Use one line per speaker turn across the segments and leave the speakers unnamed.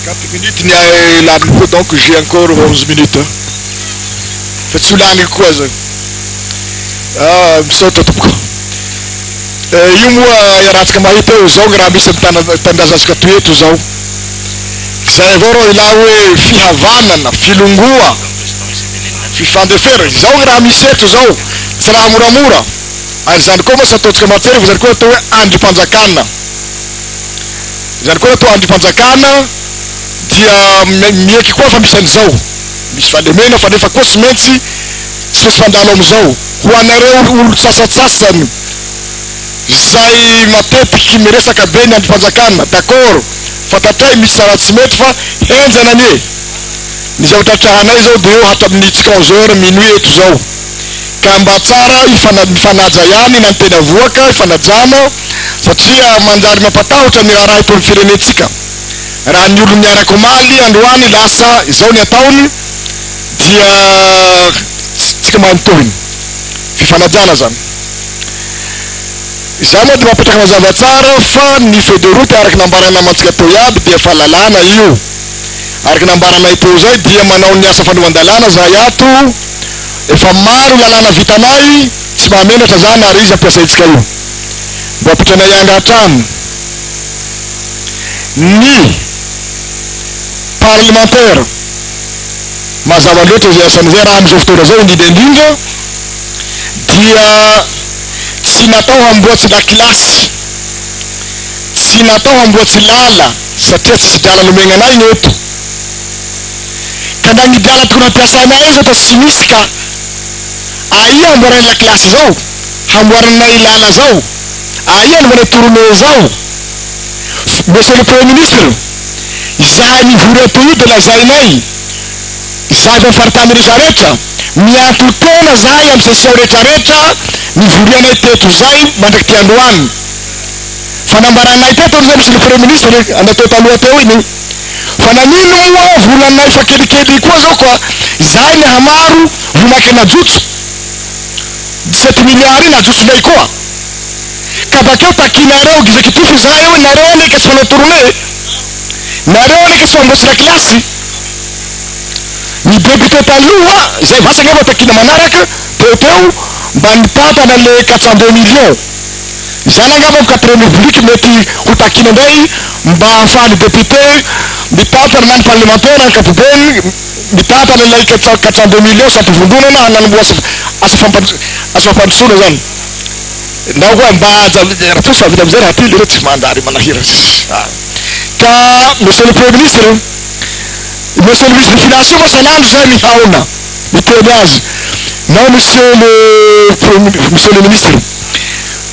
Quatre minutes ny ahy laniko koa donc j'ai encore onze minutes a! Fa tsy ho laniko koa aza io. Ah, misaotra tompoko. Eh, io moa iarahantsika mahita eo, izao ny raha misy amin'ny tana- tanindrazantsika toy eto izao. Izay avao raha ilà hoe fihavanana, filongoa, fifandeferana, izao ny raha misy eto izao, tsy raha moramora. Ary izany koa mantsy ataontsika matsery fa izany koa atao hoe andrim-panjakana. Izany koa raha toa andrim-panjakana dia mieky koa fa misy an'izao, misy fahalemena fa nefa koa tsy maintsy tsy maintsy mandalo amin'izao. Ho anareo olon-tsasatsasany izay matetiky miresaka be ny andrim-panjakana, d'accord, fantatray misy tsara tsy mety fa henjana anie. Ny zavatra trahanay izao dia eo hatramin'ny tsy onze heures minuit eto izao ka mba tsara mifanaja ihany na ny teny avoaka ifanajana, satria manjary mampatahotra ny raharaha eto amin'ny firenentsika raha ny olon'ny araka omaly androany lasa izao ny ataony dia tsika mahay ny tohiny fifanajana zany izaho moa dia mapetraka mazava tsara fa ny feuille de route araka nambarana namantsika teo iaby dia fa lalàna io araka nambaranay teo izay dia manao ny asa fanovan-dalàna zahay ato efa maro lalàna vitanay tsy mahamenatra zany ary izy ampiasaintsika io Mba pitranay anga hatrany ny parlemantera. Mazava loatra izay asany izay raha amin'izao fotoana izao indrindra indrindra dia tsy natao hamboatsy lakilasy, tsy natao hamboatsy lala satria tsisy drala nomegna anay ny eto. Ka na ny drala tokony hampiasainay aza eto tsy misy ka aia hamboaray lakilasy izao? hamboarana i lala zao aia no manao tournee zao monsieur le premier ministre izahay mivory ato io de lazainay izahay avy am faritany rehetra rehetra mianto tena zahay am session rehetra rehetra nivorianay teto zay mandraky ty androany fanambaranay teto zay monsieur le premier ministre natao taloha teo iny fa nanino moa volanay fa kelikely koa zao ka izahay mihamaro vomakena jotso dix-sept milliards iny ajotsonay koa ka bakeo takianareo executif izahay hoe nareo anie ka tsy manao tournée e! nareo anie ka tsy mamboatsy lakilasy ny député taloha izay vasa angamba takiana manaraka teo teo mba nitantana le quatre cent deux millions izany angamba am quatrième république mety ho takiana indray mba ahafahan'ny député mitantana na ny parlementaire ankapobeny mitantana ilay quatrant deux millions sampivondronana hananamboa asa asa fampandro asa fampandrosoana izany na koa mba haja raha toa tsy mahavita amin'izay raha ty leroa tsy manjary manahira sisa ka monsieur le premier ministre monsieur le ministre des finances io moa san'andro zay mihaona miteny azy nao monsieur le premier monsieur le ministre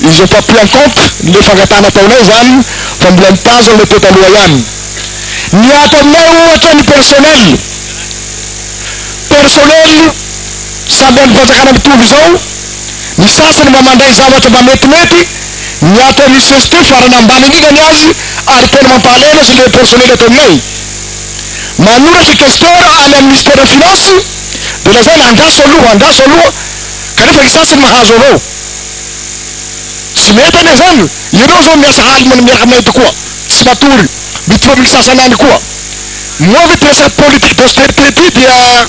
Ils ont pas pris en compte le fangatahana ataonay izany fa mbola mitazona le teo taloha ihany. Ny ato aminay ohatra ny personnel, personnel samy amin'ny fanjakana mitovy izao, ny sasany mba mandray zavatra mba metimety, ny ato amin'ny CST farany ambany indrindra ny azy ary tena mampahalaina azy le personnel ato aminay. Manoratra questeur any amin'ny Ministère Finance dia lazaina andraso aloha, andraso aloha kanefa ny sasany mahazo avao. Tsy mety anie zany. Ianao zao miasa alina miaraka aminay eto koa tsy matory. Mitory ny sasany any koa. Moa ve ity resaka politique d'austérité ity dia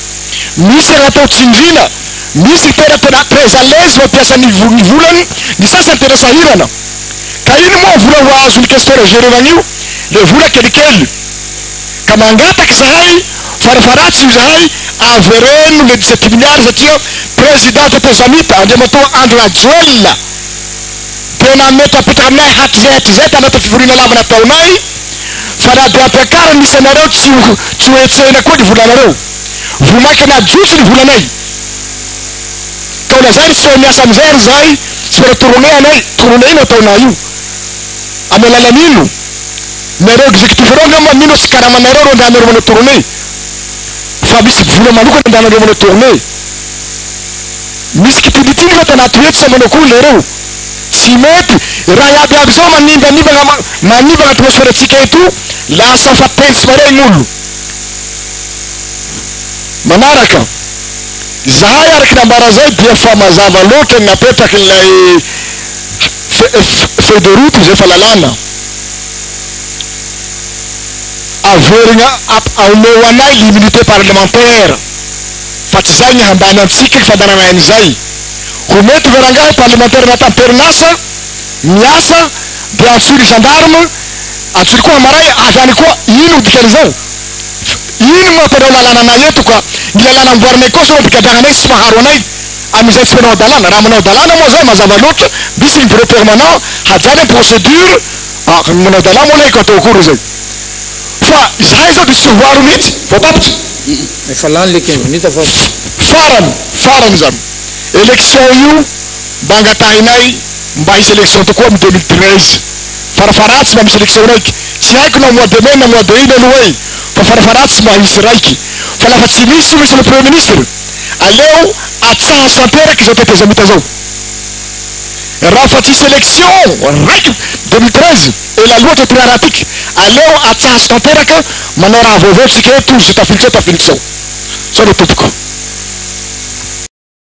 misy an'atao tsindriana. Misy tena tena très à l'aise mampiasa ny ny volany, ny sasany tena sahirana. Ka ino moa vola ho azon'ny questeur Gerevagny io? Le vola kelikely. ka mangataka izahay farafaharatsiny izahay avereno le dix sept milliards satria président Toto Zamita Andriamatoa Andry Rajoelina dia nametrapetraka aminay hatrizay hatrizay tanaty fivoriana lava nataonay fa na dia ampiakariny ny isanareo tsy ho tsy ho hetsehina koa ny volanareo vao mainka najotso ny volanay ka ho lazainy tsy eo miasa amin'izay ary izahay tsy mora toronehanay toroneina ataonay io amin'ny alalan'ino Nareo executif reo angamba mino fa tsy karamanareo reo ndra nareo manao tournée fa misy vola manokana ndra nareo manao tournée. Misy kitilitily reo tanaty hoe tsy ampy manao akory nareo. Tsy mety raha iaby iaby zao manimbanimba manimba atmosphere tsika eto lasa fa tentsy marery gnolo. Manaraka. Zahay araky nambara zay dia fa mazava loatra ny napetraky ilay Feuille de route izay fa lalàna averigna aomeo ho anay l'immunité parlementaire fa tsy zay ny hambany antsika ny fandanana aina izay ho mety ve rangahy parlementaire anaty amperinasa miasa dia antsoy ny gendarme antsoy koa hamaray avy any koa ino ho dikan'izao ino no mampanao lalàna anay eto ka ny lalàna amboarinay koa sao ampigadrahanay sy tsy maharo anay amin'izay tsy manao hadalana. Raha manao hadalana moa zao mazava loatra, misy ny bureau permanent hajanony ny procédure, ah ny manao hadalana moa laiko atao akory izay. Fa izahay zao dia tsy ho aro mihitsy, voatapitra. Efa lany
le quinze minutes fa. Farany,
farany izany. Élection io mba angatahinay mba hisy élection tokoa amin'ny deux mille treize. Farafaharatsy mba misy élection raiky. Tsy haiko na mois de mai na mois de ina aloha e! Fa farafaharatsy mba hisy raiky. Fa lafa tsy misy io misy le premier ministre. Aleo atsaho tanteraka izao tetezamita izao. Raha fa tsisy election raiko deux mille treize ela loatra ity raharaha ity ka. Aleo atsaso tanteraka manao raha vaovao tsika eto izay tafiditra ao tafiditra ao. Zao le tompoko.